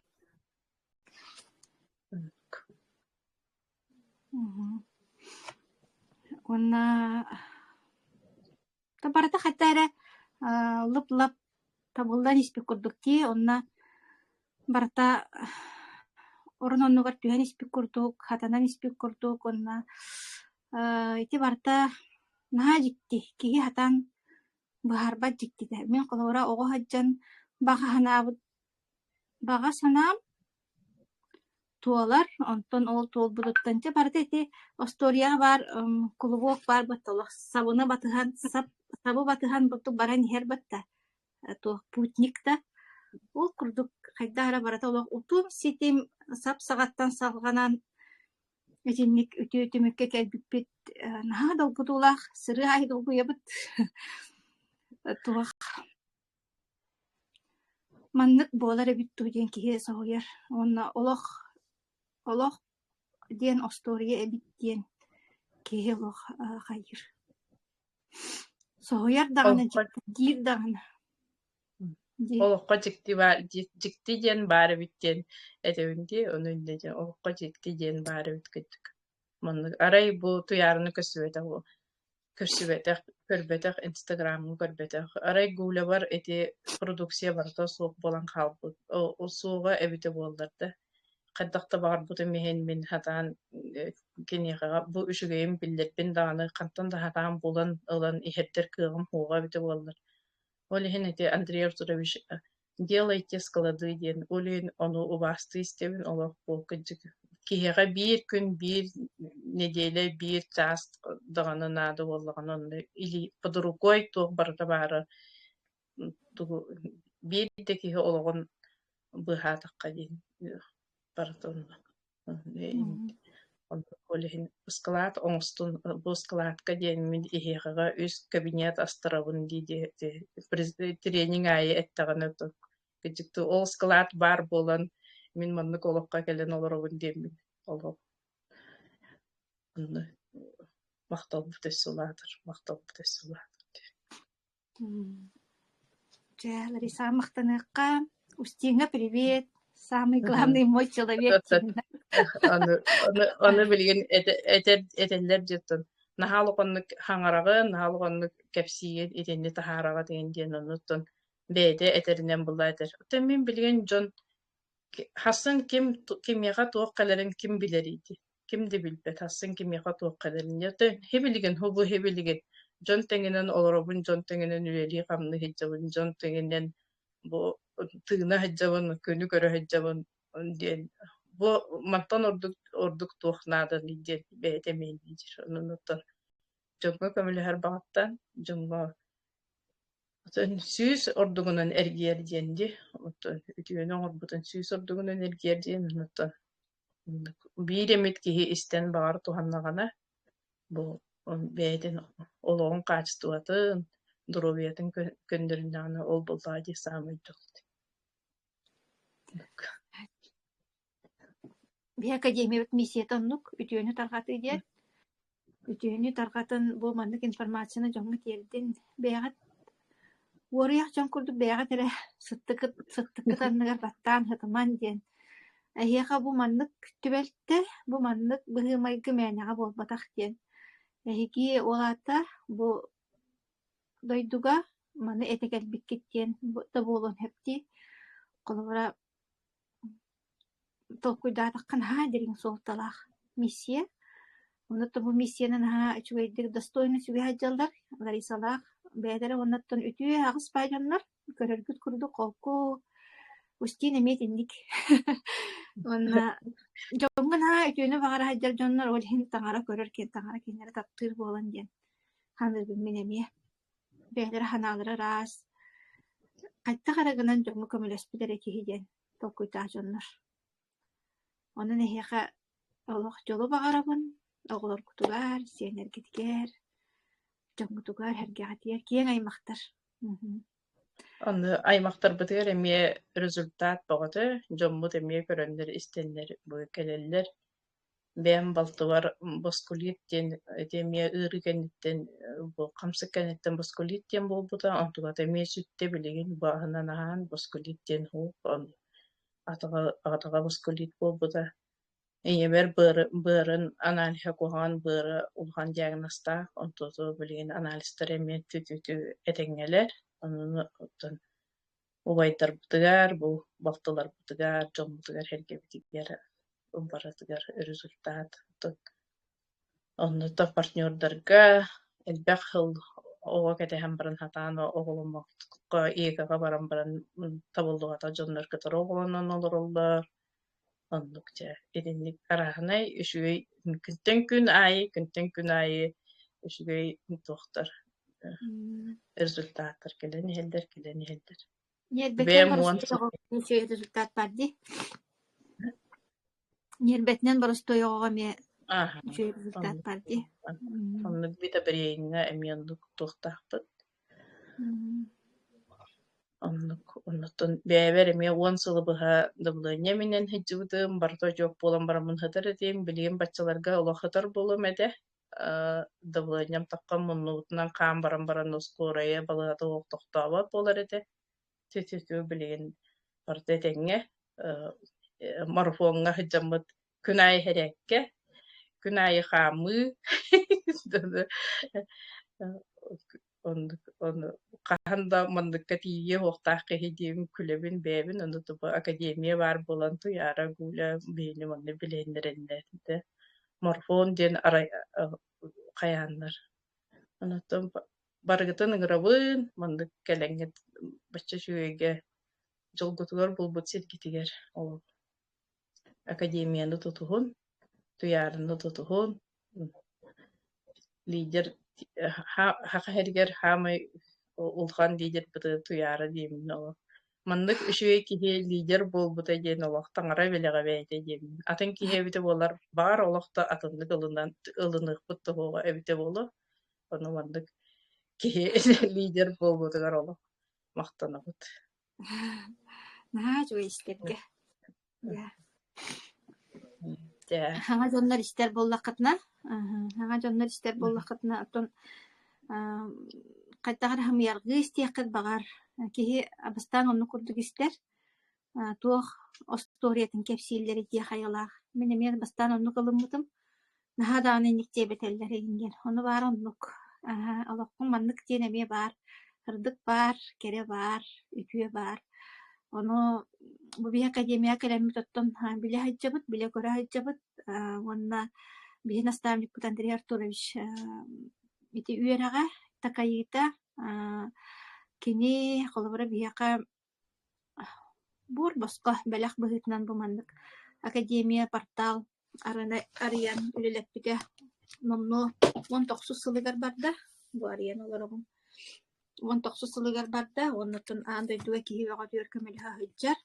уонна да барыта хата эрэ лып-лап табыллан испит курдук дии онно барыта орон оннугар түһэн испит курдук хатанан испит курдук уонна ити барыта наһаа дьикти киһи хатан Быһаарбат дьиктитэ: мин холобура оҕо сылдьан баҕа санаабыт баҕа санаам туолар, онтон ол туолбутуттан дьэ барыта ити остуоруйаҕа баар м, кулубуок баар батта олох сабыны батыһан, сап, сабы батыһан бурдук баран иһэр батта, э, туох путник да. Ол курдук хайдах эрэ барыта олох утум-ситим, сап саҕаттан салҕанан Итинник үтүө түмүккэ кэлбиппит наһаа долгутуулаах, сырыы аайы долгуйабыт. Туох маннык буолар эбит дуу диэн киһи соһуйар уонна олох олох диэн остуоруйа эбит диэн киһи олох хайыыр соһуйар даҕаны дьиктиргиир даҕаны олоххо дьикти баар дьикти диэн баар эбит диэн этэбин дии ону иннэ дьэ олоххо дьикти диэн баар эбит кыттык маннык арай бу туйаарыны көрсүбэтэх көрсүбэтэх көрбөтөх инстаграмҥа көрбөтөх арай гулябар ити продукция барыта суох буолан хаалбыт суоҕа эбитэ буоллар да хайдах да баҕарбытым иһин мин сатаан киниэхэҕэ бу үчүгэйин биллэрбин даҕаны хантан да сатаан булан ылан иһэрдэр кыаҕым суоҕа эбитэ буоллар Ол иһин ити Андрей Артурович э, «Делайте склады» диэн өлүөн ону убаастыы истэбин олох ол кырдьык киһиэхэ биир күн биир нэдиэлэ биир чаас даҕаны наада буоллаҕына онно или под рукой туох барыта баара тугу биир да киһи олоҕун быыһаатахха диэн барыта онно ол иһин ыскылаат оҥостун бу ыскылаатка диэн мин иһиэхэҕэ үс кабинет астарабын дии дии тренинг аайы эттэҕинэ кыдьыктыы ол ыскылаат баар буолан мин маннык олоххо кэлэн олоробун диэммин олох махталбыт өссө улаатар махталбыт өссө улаатар Дьэ, Лариса, махтаныахха. Устиҥа, привет! Самый главный мой человек диэнэ. Аны аны аны билигин эт- этэр этэллэр диэттэн наһаа улаханнык хаҥараҕын, наһаа улаханнык кэпсиин итинни таһаараҕыт иһин диэн оннуттан бэйэтэ этэринэн була этэр. Оттон мин билигин дьон ки- хассын ким ту- кимиэхэ туох кэлэрин ким билэрий дии. ким да билбэт, ахсын кимиэхэ туохха дэнниэ. Ты хибилигин, хубу хибилигин. Дьон тэҥинэн олоробун, дьон тэҥинэн үлэлии-хамныы сылдьабын, дьон тэҥинэн бу тыына сылдьабын, күнү көрө сылдьабын диэн бу мантан ордук ордук туох нааданый диэн бэйэтэ мэйдиир. Онуттан дьоҥҥо көмөлөһөр баҕаттан дьоҥҥо сүүс ордугунан эргийэр диэн ди. Оттон үтүөнү оҥорбутун сүүс ордугунан эргийэр диэн оттон биир эмит киһи истэн баҕар туһаннаҕына бу бэйэтин олоҕун хаачыстыбатын, доруобуйатын көннөрүннэҕинэ ол буллаҕа дии саамай дьолт. Бии академиябыт миссият оннук үтүөнү тарҕатыы диэн Үтүөнү тарҕатын бу маннык информацияны дьоҥҥо тиэрдин. Бэйэҕит уоруйах дьон курдук бэйэҕит эрэ сыттыкыт сыттыккыт анныгар баттаан һытымаҥ диэн. Эһиэхэ бу маннык түбэлтэ, бу маннык быһыы-майгы мээнэҕэ буолбатах диэн. Эһиги ол аата бу дойдуга маны этэ кэлбиккит диэн да буолуон сөп дии. Холобура толкуйдаатахха наһаа дириҥ суолталаах миссия. Онно то бу миссияны наһаа үчүгэйдик достойно сүгэһэр дьаллар Ларисалаах бэйэлэрэ уонна оттон үтүө аҕыс баай дьоннор көрөргүт курдук холку устин эмиэ итинник уонна дьоҥҥо наһаа үтүөнү баҕара сылдьар дьоннор ол иһин таҥара көрөр киэн таҥара кинилэри таптыыр буолан диэн ханыыбын мин эмиэ бэйэлэрэ санаалара ыраас, хайдах эрэ гынан дьоҥҥо көмөлөспүт эрэ киһи диэн толкуйдаах дьоннор. Онон эһиэхэ олох дьолу баҕарабын, оҕолоргутугар, сиэннэргитигэр, дьоҥҥутугар, эргэҕитигэр киэҥ аймахтар. Аны аймахтарбытыгар эмиэ результат бөҕөтө, дьоммут эмиэ көрөннөр-истэннэр кэлэллэр. бэйэм балтыбар боскулит диэн ити эмиэ ыарыы кэнниттэн бу хамсык кэнниттэн боскулит диэн буолбута онтубата эмиэ сүттэ билигин бааһынан аһаан боскулит диэн суох атаҕа атаҕа боскулит буолбута ийэбэр быары быарын аналиһа куһаҕан быара улахан диагнозтаах онтуту билигин анализтар эмиэ түтүтү этэҥҥэлэр онуну оттон убайдарбытыгар, бу балтыларбытыгар, дьоммутугар эргэбитигэр барытыгар результат. Оннуктан партнердарга элбэх хыл оҕо кэтэһэн баран сатаан оҕоломмокко ИК-га баран баран табыллыбата дьоннор кытары оҕолонон олороллор Оннук дьэ итинник араһынай үчүгэй күнтэн күн аайы күнтэн күн аайы үчүгэй туохтар э, результаттар кэлэн иһэллэр кэлэн иһэллэр. Ньиэрбэтинэн боростуой результат бар дии. Ньиэрбэтинэн боростуойоҕо эмиэ үчүгэй результат бар дии. Оннук битэ бириэйиҥҥэ эмиэ оннук туохтаахпыт Оннук. Оннуктун бэйэбэр эмиэ уон сылы быһа дабылыанньа сылдьыбытым, барыта очуок буолан бараммын сытар этим. Билигин баччаларга олох сытар буолуом этэ. Э, дабылыанньам таххан муннубутунан хаан баран баран ускуорайа балыһата суох тохтообот буолар этэ. Тю-тю-тю билигин барыта этэҥҥэ. Э, марафоҥҥа сылдьаммыт күн аайы иһэрээккэ, күн аайы хаамыы ону хаһан да манныкка тиийиэ уохтаах киһи диэбин күлэбин бэйэбин ону тупа академия баар буолан туйаара гуля бэйэни манна билиэннэрэннээтэ морфон диэн арай хайааннар онтон барыгытын ыҥырабын маннык кэлэҥҥит бачча үчүгэйгэ дьолгутугар булбут сиргитигэр ол академияны тутуһун, туйаарыны тутуһун, лидер хаха иһэригэр хаамай улахан лидербыты туйаара диэмин ол маннык үчүгэй киһи лидер буолбута диэн олох таҥара бэлэҕэ бэйэтэ диэмин атын киһи эбитэ буолар баар олохто атыннык ылынан ылыныахпыт тоһуоҕа эбитэ буолуо ону маннык киһи лидер буолбутугар олох махтанабыт Наһаа үчүгэй истэргэ. Дьэ. Дьэ. Саҥа дьоннор истэр буоллаххытына, саҥа дьоннор истэр буоллаххытына, оттон хайдах эрэ хамыйаргыы истиэххит баҕар. Киһи абыстаан оннук курдук истэр. туох остуоруйатын кэпсииллэрий дии хайалаах. Мин эмиэ бастаан оннук ылыммытым. наһаа даҕаны инник диэбэтэллэр иһин диэн ону баар оннук аа олохпун маннык диэн эмиэ баар ырдык баар кэрэ баар үтүө баар ону бу биһи академияҕа кэлэммит оттон аа, билэ сылдьабыт билэ көрө сылдьабыт аа, уонна биһи наставникпыт Андрей Артурович аа, ити үөрэҕэ такайыыта аа, кини холобура биһиэхэ Буор босхо бэлэх быһыытынан бу маннык академия портал арыны арыйан үлэлэппитэ номнуо уон тохсус сылыгар барда. Бу арыйан олоробун. Уон тохсус сылыгар барда уонна оттон аан дойдуга киһи бөҕөтүгэр көмөлөһө сылдьар.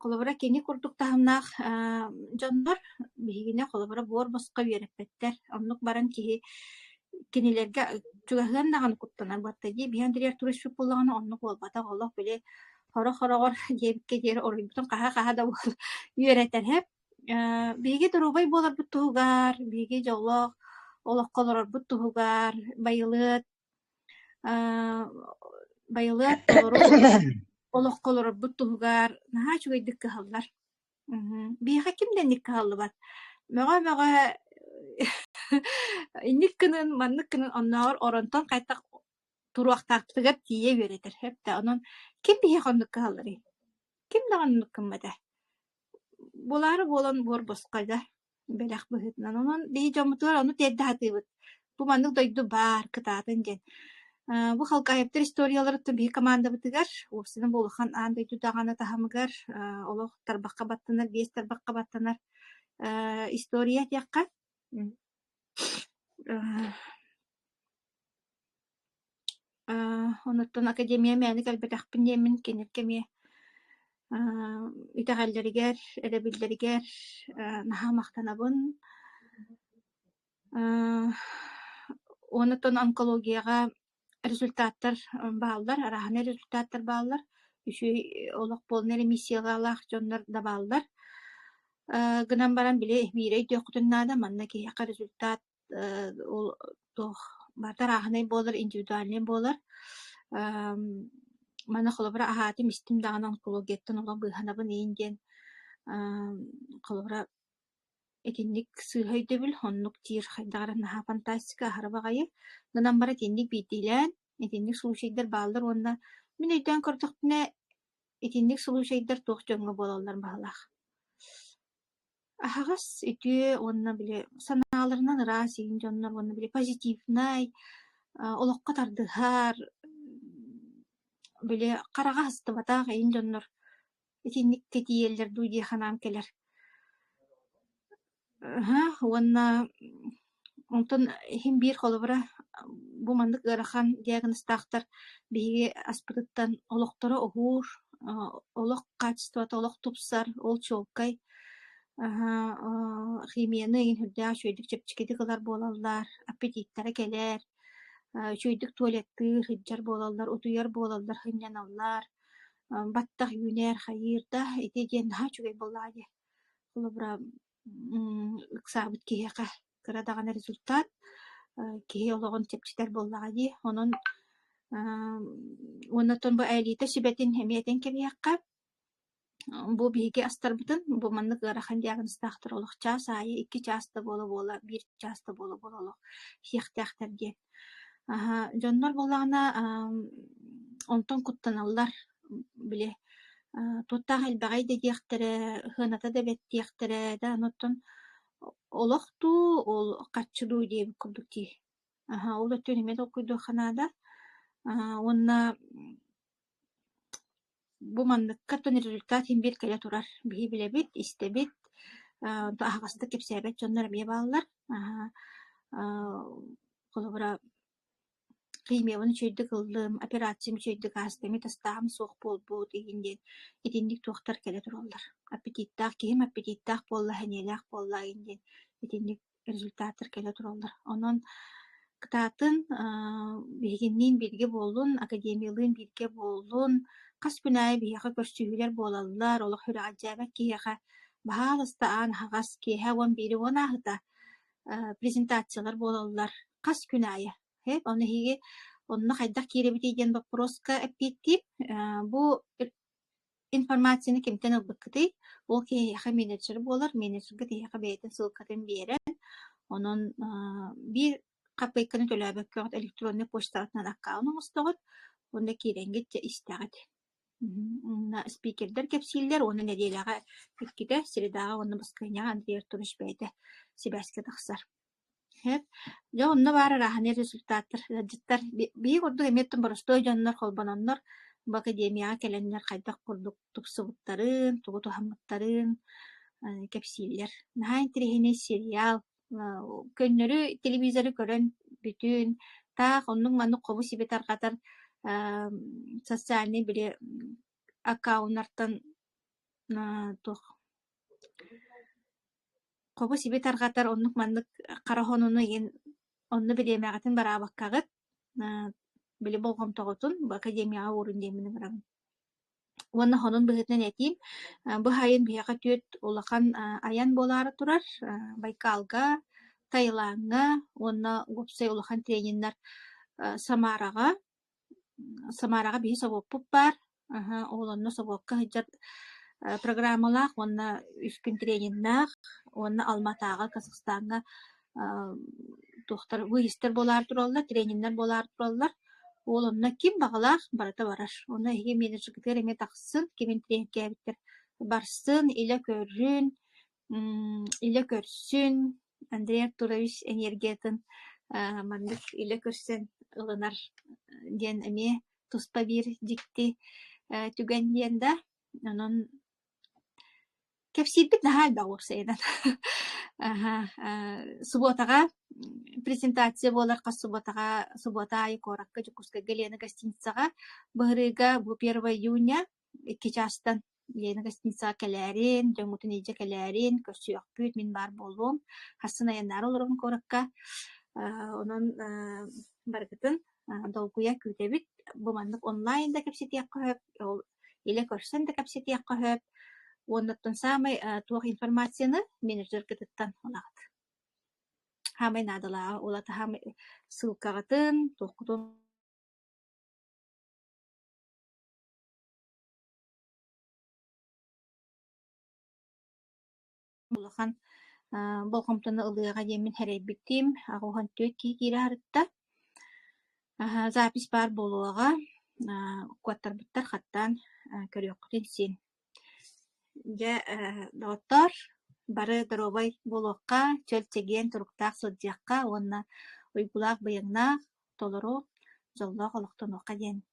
Холобура, кини курдук таһымнаах дьоннор биһигини холобура буор босхо үөрэппэттэр. Оннук баран киһи кинилэргэ чугаһыан даҕаны куттанар буолта дии. Били Андрей Артурович Чуппуллаҕына оннук буолбатах. Олох били хороҕ-хороҕор диэбиккэ диэри уруйбутун хаһа-хаһа да үөрэтэрһэп. Биһиги доруобай буоларбыт туһугар, биһиги дьоллоох олоххо олорорбут туһугар байылыат Э, байылыат толору ис олоххо олорорбут туһугар наһаа үчүгэйдик кыһаллар. Мгм. Биһиэхэ ким да инник кыһаллыбат. Мөҕө-мөҕө инник гынын, маннык гынын оннооҕор оронтон хайдах туруохтаахпытыгар тиийэ үөрэтэр сөптөөх. Онон ким биһиэхэ оннук кыһалларый? Ким даҕаны оннук гыммата. Буолаары буолан буор босхой да. бэлэх быһыытынан. Онон биһи дьоммутугар ону тиэрдэ сатыыбыт. Бу маннык дойду баар, кытаатын диэн. Э, бу халкаһыттар историяларыттан биһи командабытыгар, уопсана буолухан аан дойду даҕаны таһымыгар э, олох тарбахха баттанар, биэс тарбахха баттанар э, история диэххэ. Аа, онуттан академия мээнэ кэлбэтэхпин диэммин кинилэргэ эмиэ аа итэҕэллэригэр, эрэбиллэригэр аа наһаа махтанабын. Аа, онуттан онкологияҕа результаттар бааллар, арааһынай результаттар бааллар. Үчүгэй олох буолна эрэ миссияҕалаах дьоннор да бааллар. Аа гынан баран били биир өйдүөххүтүн наада манна киһиэхэ результат Э, ол туох бартарааһынай буолар, индивидуальнай буолар. Эм, манна холобура аһаатым, истим даҕаны онкологияттан олох быыһанабын иин диэн. Эм, холобура итинник сыыһа өйдөбүл, оннук диир хайдах эрэ наһаа фантастика, аһара баҕайы. Гынан баран итинник биирдиилээн, итинник случайдар бааллар уонна мин өйдөөн көрдөхпүнэ, итинник случайдар туох дьоҥҥо буолаллар баһылаах. Аһаҕас, үтүө уонна били санааларынан ыраас иһин дьоннор уонна били позитивнай, олоххо тардыһар, били хараҕа астыбатах иһин дьоннор итинник тэтийэллэр дуу дии санаам кэлэр. Уонна Онтон иһин биир холобура бу маннык ыарахан диагнозтаахтар биһиги аспытыттан олохторо уһуур, олох хаачыстыбата олох тупсар, ол чуолкай. химияны иһин үрдээх үчүгэйдик чэпчэкитик ылар буолаллар, аппетиттэрэ кэлэр, үчүгэйдик туалеттыыр, сылдьар буолаллар, утуйар буолаллар, сынньаналлар, баттах үүнэр, хайыыр да ити диэн наһаа үчүгэй буоллаҕа дии. Холобура ыксаабыт киһиэхэ кыра даҕаны результат киһи олоҕун чэпчэтэр буоллаҕа дии онон уонна оттон бу элита сүбэтин эмиэтин кэбиһиэххэ бу биһиги астарбытын бу маннык ыарахан диагнозтаахтар олох чаас аайы икки чаас да буола буола биир чаас да буола буола олох иһиэхтээхтэр диэн Аһа, дьоннор буоллаҕына, аам, онтон куттаналлар, били, аа, туохтаах элбэҕэй да диэхтэрэ, сыаната да бэрт диэхтэрэ, да аны оттон олох дуу, ол харчы дуу диэбит курдук дии. Аһа, ол өттүн эмиэ толкуйдуохха наада. Аа, уонна Бу манныкка аттан результат син биир кэлэ турар. Биһи билэбит, истэбит, аа аһаҕастык кэпсээбэт дьоннор эмиэ бааллар. Аһа аа холобура химиябын үчүгэйдик ыллым, операциям үчүгэйдик ааста, эмиэ тастааһын суох буолбут игин диэн итинник туохтар кэлэ тураллар. Аппетиттаах киһим аппетиттаах буолла, сэниэлээх буолла игин диэн итинник результаттар кэлэ тураллар. Онон кытаатын биһигинниин бииргэ буоллун, академиялыын бииргэ буоллун, хас күн аайы биһиэхэ көрсүһүүлэр буолаллар, олох үрэҕэлдьээбэт киһиэхэ баһааласта аан аһаҕас киэһэ уон биири уон ааһыта презентациялар буолаллар хас күн аайы. Эп, он эһиги онно хайдах киирэбитий диэн боппуруоска эппиэттиим. Бу информацияны кимтэн ылбыккытый? Ол киһиэхэ менеджер буолар, менеджергэ тиһиэхэ бэйэтин ссылкатын биэрэн, онон аа, биир хаппыайканы төлөөбөккө оҕот электронный почтаҕытынан аккаунт оҥостоҕут уонна киирэҥҥит дьэ истэҕит. Мм, спикердэр кэпсииллэр уонна нэдиэлэҕэ иккитэ, средаҕа уонна баскыанньаҕа Андрей Артурович бэйэтэ сибээскэ тахсар. Дьэ онно баар арааһынай результаттар ыалдьыттар биир курдук эмиэ оттон боростуой дьоннор холбононнор бу академияҕа кэлэннэр хайдах курдук тупсубуттарын, тугу туһаммыттарын кэпсииллэр. Наһаа интэриэһинэй сериал, көннөрү телевизору көрөн бүтүн, таах оннук-маннык хобу-сиби тарҕатар социальнай били аккаунтартан туох хобу-сиби тарҕатар оннук-маннык хара хонууну иһин онно бириэмэҕитин бараабаккаҕыт били болҕомтоҕутун академияҕа уурун диэммин ыҥыраҕын уонна хонун быһыытынан этиим бу сайын биһиэхэ түөрт улахан айан буолаары турар байкалга таилаҥҥа уонна уопсай улахан трениннэр самараҕа Самараҕа биһи собуоппут баар, аһа, ол онно собуокка сылдьар программалаах уонна үскүн трениннаах уонна Алматааҕы, Казахстаҥҥа аа туохтар выездтэр буолаары тураллар, трениннэр буолаары тураллар. Ол онно ким баҕалаах барыта барар. Онно эһиги менеджергытыгар эмиэ тахсыын, кимин тренкээбиттэр барсын, илэ көрүн, М, илэ көрсүн, Андрей Артурович энергиятын а, маннык илэ көрсөн ылынар э, диэн эмиэ туспа биир дьикти э, түгэн диэн да. Онон кэпсиирбит наһаа элбэх уопсайынан. Аһа, а, субуотаҕа презентация буолар хас субуотаҕа субуота аайы куоракка Дьокуускайга Лена гостиницаҕа. Быһырыыга бу 1 июня Икки чаастан Лена гостиницаҕа кэлээрин, дьоҥҥутун илдьэ кэлээрин, көрсүөхпүт, мин баар буолуом. Хассан айаннаары олоробун куоракка. Аа, онон аа, барыгытын аа, долгуйа күүтэбит. Бу маннык онлайн да кэпсэтиэххэ сөп, ол илэ көрсөн да кэпсэтиэххэ сөп. Уоннаттан саамай аа, туох информацияны менеджергытыттан ылаҕыт. Саамай наадалааҕа ол ата саамай ссылкаҕытын, туоххутун улахан аа болҕомтону ылыаҕа диэммин сэрэйбиттиим аҕыһан түөрт киһи киирэ сырытта аһа запись баар буолуоҕа аа укуоттарбыттар хаттаан аа көрүөххүтүн син дьэ ээ доҕоттоор бары доруобай буолуохха чөл чэгиэн туруктаах сылдьыахха уонна уйгулаах быйаҥнаах толору дьоллоох олохтонуохха диэн